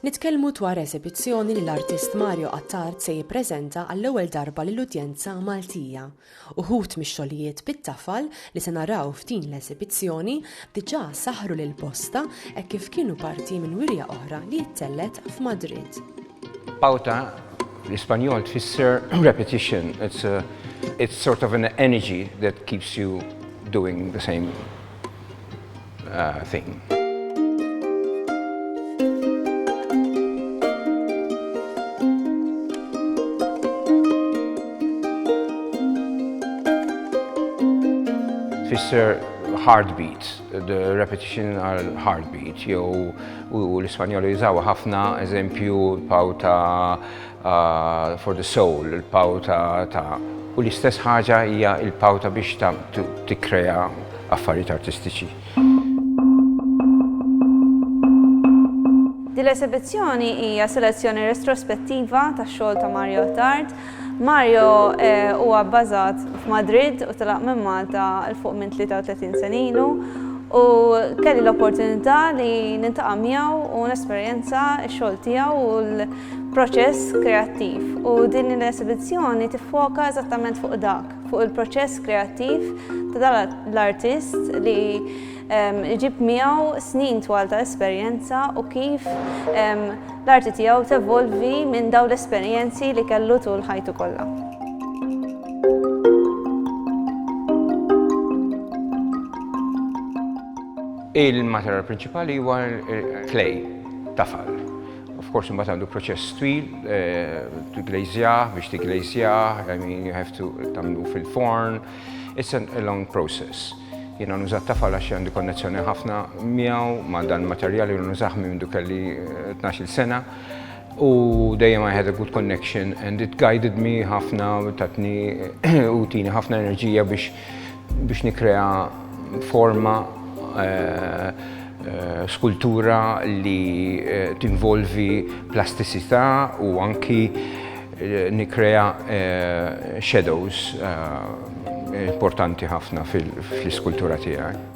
Nitkellmu dwar eżibizzjoni li l-artist Mario Attard se jippreżenta għall-ewwel darba lill-udjenza Maltija. Uħud mix-xogħlijiet bit-tafal li se naraw f'din l-eżibizzjoni diġà saħħru lil bosta hekk kif kienu parti minn wirja oħra li ttellgħet f'Madrid. Pauta bl-Ispanjol tfisser repetition. It's a, it's sort of an energy that keeps you doing the same. thing. tfisser heartbeat, the repetition għal heartbeat, jew u l-Ispanjoli jużaw ħafna eżempju paw ta' Ah, for the soul, il-power ta' ta' u l-istess ħaġa hija il-power ta' biex ta' tikkrea affarijiet artistiċi. Din l-esibizzjoni hija selezzjoni retrospettiva tax-xogħol ta' Mario Attard. Mario eh, huwa bbażat f'Madrid u telaq minn Malta il fuq minn 33 sen ilu u kelli l-opportunità li nintaqa' miegħu u nesperjenza x-xogħol tiegħu u l- proċess kreattiv u din l-esibizzjoni tiffoka eżattament fuq dak, fuq il-proċess kreattiv ta' l-artist li ehm, iġib miegħu snin twal ta' esperjenza u kif ehm, l-arti tiegħu tevolvi minn dawn l-esperjenzi li kellu tul ħajtu kollha. Il-materjal prinċipali huwa clay, tafal. Of course imbagħad għandu proċess twil, tiglazjah, biex tiglazjah, I mean you have to tagħmlu fil-forn. It's a long process. Jiena nuża t-tafal għax għandi konnezzjoni ħafna miegħu ma' dan materjal li nużah minn mindu kelli 12-il eh, sena. U dejjem I had a good connection and it guided me ħafna tatni u tini ħafna enerġija biex biex nikkrea forma skultura li tinvolvi plastisità u anki nikkrea shadows importanti ħafna fl-iskultura tiegħi.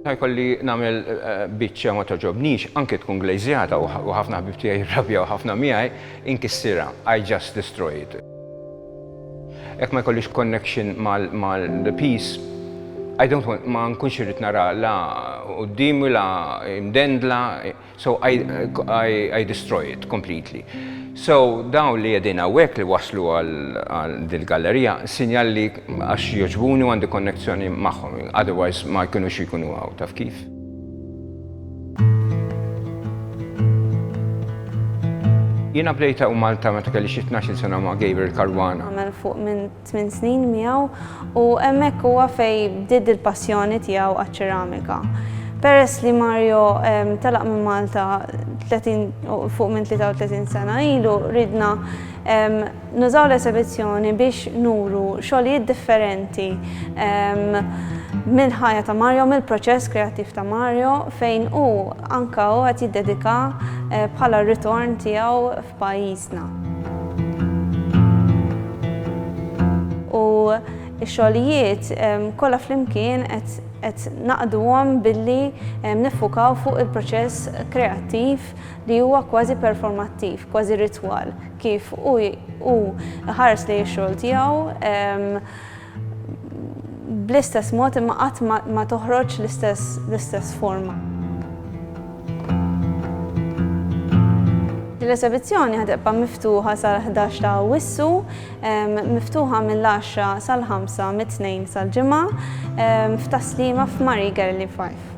Ħajkolli nagħmel eh, biċċa ma toġobnix, anke tkun glejżjata u ħafna ħbib tiegħi jirrabja u ħafna miegħi, inkissirha. I just destroy it. Ek ma jkollix connection mal-peace, I don't want, ma nkunx irrit nara la u d-dimi la imdendla, So I, I, I destroy it completely. So dawn li jedin għawek li waslu għal dil-gallerija, sinjal li għax joġbuni għandi konnezzjoni maħħom, otherwise ma jkunu xikunu għaw, taf kif? Jina bdejta u Malta meta kelli xi 12 sena ma' Gabriel Caruana. Għamel fuq minn tmien snin miegħu u hemmhekk huwa fejn bdiet il-passjoni tiegħu għaċ-ċeramika. Peress li Mario telaq minn Malta fuq minn 33 sena ilu, ridna nużaw l-esebizzjoni biex nuru xogħlijiet differenti mill-ħajja ta' Mario, mill-proċess kreattiv ta' Mario fejn hu anke hu qed jiddedika bħala r-ritorn tiegħu f'pajjiżna. U x-xogħlijiet kollha flimkien qed naqduhom billi niffukaw fuq il-proċess kreattiv li huwa kważi performattiv, kważi ritwal kif hu hu ħares lejn ix-xogħol tiegħu. bl-istess mod imma qatt ma toħroġ l-istess forma. Din l-esebizzjoni ħa tibqa' miftuħa sal-ħdax ta' Awwissu, miftuħa mill-għaxra sal-ħamsa mit-Tnejn sal-Ġimgħa, f'Tas-Sliema f'Marie Gerli 5.